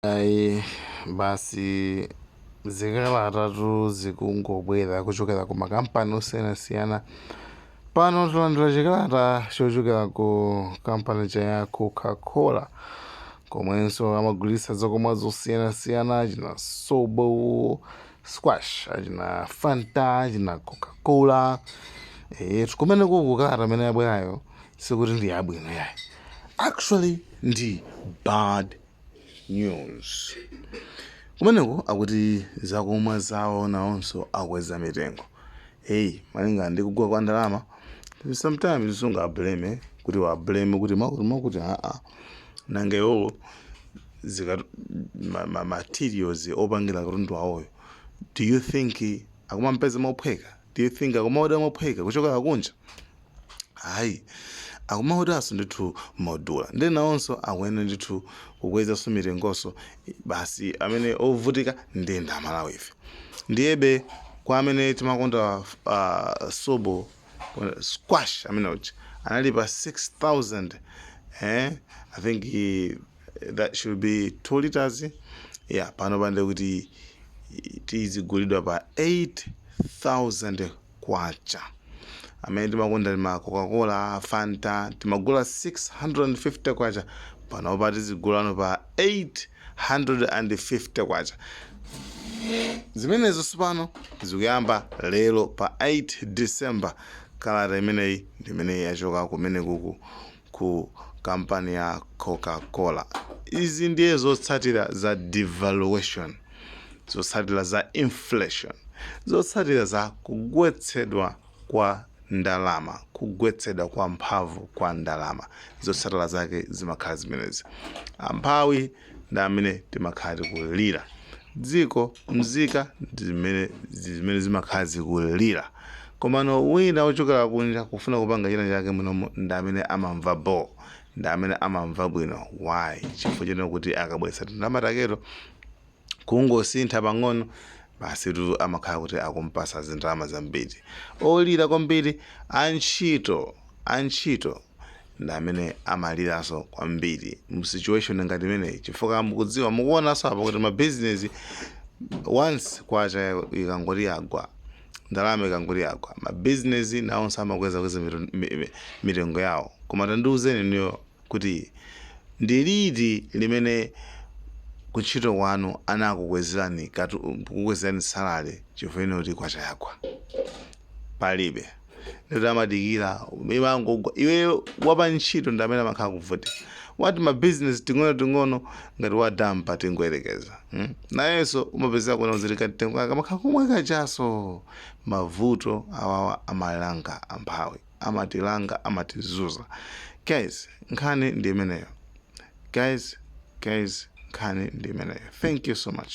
Ayi basi zikalatatu zikungobwera kuchokera ku makampani osiyanasiyana pano talandira chikalata chochokera ku kampani cha ya coca-cola komwenso amagulitsa zakumwa zosiyanasiyana achina sobo squash achina fanta achina coca-cola e, kumeneku kukalata amene yabwerayo sikuti ndi yabwino yayi actually ndi bad news kumeneko akuti zakumwa zawo nawonso akweza mitengo hey malinga ndi kugwa kwa ndalama sometimes sungablame kuti uwablame kuti makuti makuti aa nanga iwowo zika ma, ma materials opangira katundu awoyo do you think akumampeza mophweka do you think akumaoda mophweka kuchokera kunja ayi akumaodaso ndithu modula ndiye nawonso akuyenera ndithu kukwezaso mitengoso basi amene ovutika ndiye amalawife ndiyebe kwa amene timakonda uh, sobo uh, squash amene uja anali pa 6000 eh i think eh, that should be 2 liters yeah panopa ndi kuti uzigulidwa pa 8000 kwacha amene timakonda tima coca-cola fanta timagula 650 kwacha panopa tizigulano pa 850 kwacha zimenezo tsopano zikuyamba lero pa 8 december kalata imeneyi ndimene yachoka kumene kuku ku kampani ya coca cola. izi ndiye zotsatira za devaluation, zotsatira za inflation, zotsatira za kugwetsedwa kwa ndalama, kugwetsedwa kwa mphamvu kwa ndalama, zotsatira zake zimakhala zimenezi. Amphawi ndi amene timakhala tikulira dziko mzika ndi zimene ndi zimene zimakhala zikulira komano wina ochokera kunja kufuna kupanga china chake munomo ndi amene amamva bo ndi amene amamva bwino why chifukwa chonena kuti akabweretsa tindalama taketo kungosintha pang'ono basi tu amakhala kuti akumpasa zindalama zambiri olira kwambiri antchito antchito ndi amene amaliranso kwambiri mu situation ngati imeneyi chifukwa mukudziwa mukuonanso apa kuti mabizinesi once kwacha ikangoti yagwa ndalama ikangoti yagwa mabizinesi nawonso amakweza kweza mito- mi- mi- mitengo yawo koma tandiuzeni inuyo kuti ndi liti limene kuntchito kwanu anakukwezerani katu- kukukwezerani salary chifukwa chonena kuti kwacha yagwa palibe ndati amadikira imangogwa iwe wapa ntchito ndi amene amakhala kuvutika wa tima business ting'ono ting'ono ngati wa dampa tingoyerekeza hmm? nayenso umapezeka kuona uziri katenga kumakhala kumwa kachaso mavuto awawa amalanga amphawi amatilanga amatizuza guys nkhani ndi imeneyo guys guys nkhani ndi imeneyo thank you so much